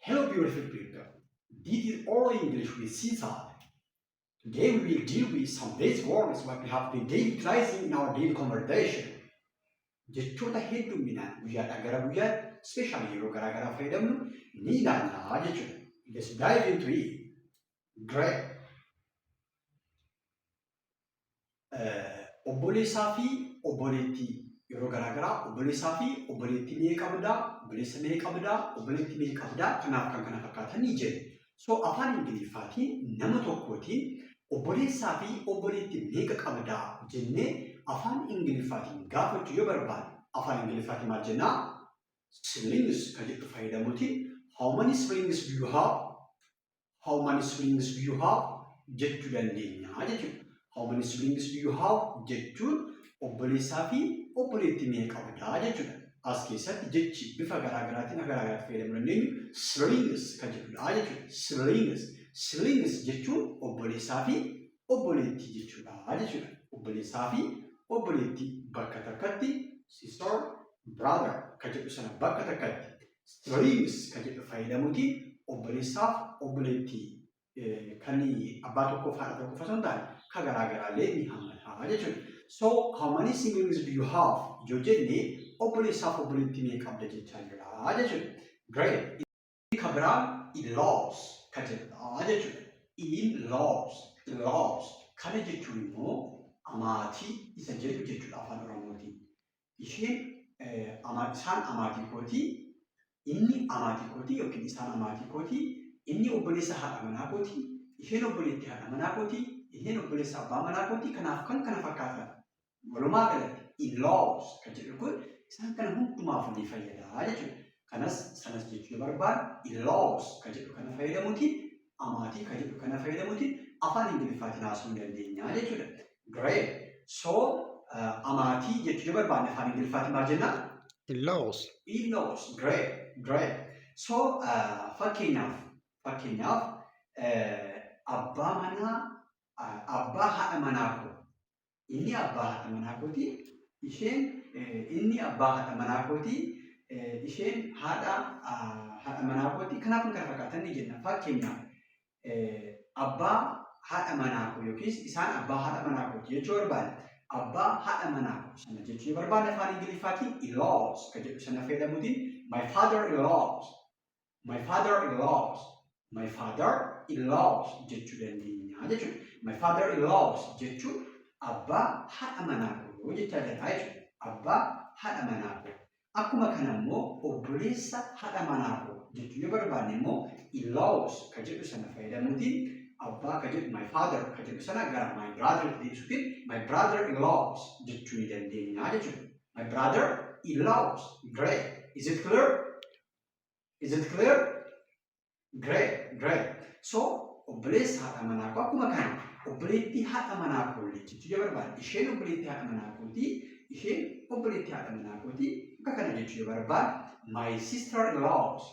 Hello beautiful people. This is all English with Caesar. Today we will deal with some base words what we have been daily utilizing in our daily conversation. Jechoota hedduminaan guyyaadhaa gara guyyaatti special yeroo garaa garaa fayyadamnu ni ilaalla jechuudha. Let's dive into it. Great. obboleessaa fi obboleettii yeroo garaa garaa obboleessaa fi obboleettii mee qabdaa obboleessa mee qabdaa obboleettii mee qabdaa kanaaf kan kana fakkaatan ni jedhu. So afaan Ingiliffaatiin nama tokkootiin obboleessaa fi obboleettii meeqa qabdaa jennee afaan Ingiliffaatiin gaafachuu yoo barbaanne afaan Ingiliffaatiin maal jennaa? Siblings kan jedhu fayyadamuutiin how many siblings do you have? how many siblings do you have jechuu dandeenya jechuudha. How many siblings do you have jechuun obboleessaa fi obboleettii meeqa qabdaa jechuudha. As keessatti jechi bifa garaagaraatiin akka garaagaraatti fayyadamuu dandeenyu siblings kan jedhudha jechuudha. Siblings. Siblings jechuun obboleessaa fi obboleettii jechuudha jechuudha. Obboleessaa fi obboleettii bakka takkatti sister brother kan jedhu sana bakka takkatti streams kan jedhu fayyadamuuti obboleessaaf obboleetti kan abbaa tokkoof haadha tokko qofa osoo hin taane kan garaa garaallee ni hammata jechuudha. So how many siblings do you have? yoo jenne obboleessaaf obboleetti meeqa qabda jechaa jira jechuudha. Great. Kan biraa in-laws kan jedhudha jechuudha. In-laws, in-laws kana jechuun immoo amaatii isa jedhu jechuudha afaan oromootiin. isheen amaa- isaan amaatii kooti, inni amaatii kooti yookiin isaan amaatii kooti, inni obboleessa haadha manaa kooti, isheen obboleettii haadha manaa kooti, isheen obboleessa abbaa manaa kooti, kanaaf kan kana fakkaatan. Walumaa galatti in-laws kan jedhu kun isaan kana hundumaaf ni fayyada jechuudha. Kanas sanas jechuu barbaadu in-laws kan jedhu kana fayyadamuutiin amaatii kan jedhu kana fayyadamuutiin afaan Ingiliffaatiin haasa'uu ni dandeenya jechuudha. Great. So uh, amaatii jechuu yoo barbaanne afaan Ingiliffaatiin maal jennaan? Laws. Illoos. Great. Great. So uh, fakkeenyaaf fakkeenyaaf uh, abbaa manaa uh, abbaa haadha manaa koo Inni abbaa haadha manaa kooti. Isheen inni abbaa haadha manaa kooti. Isheen haadha haadha manaa kooti. Kanaaf kan kana fakkaatan ni jenna. Fakkeenyaaf abbaa haadha manaa koo yookiis isaan abbaa haadha manaa kooti jechuu barbaada. Abbaa haadha manaa koo sana jechuu barbaada afaan Ingiliffaatiin in-laws kan jedhu sana fayyadamuutiin my father in-laws My father in laws. My father in laws jechuu dandeenya jechuudha. My father in laws jechuun abbaa haadha manaa koo jechaa jirra jechuudha. Abbaa haadha manaa koo. Akkuma kana immoo obboleessa haadha manaa koo jechuu yoo barbaanne immoo in laws ka jedhu sana fayyadamuutiin abbaa ka jedhu my father ka jedhu sana gara my brother itti deebisuutiin my brother in laws jechuu ni dandeenya jechuudha. My brother in laws. Great. Is it clear? Is it clear? Great, great. So, obboleessa haadha manaa koo akkuma kana obboleettii haadha manaa koo jechuutu jira barbaada. Isheen obboleettii haadha manaa kooti. Isheen obboleettii haadha manaa kooti. Akka kana jechuu jira barbaada. My sister in laws.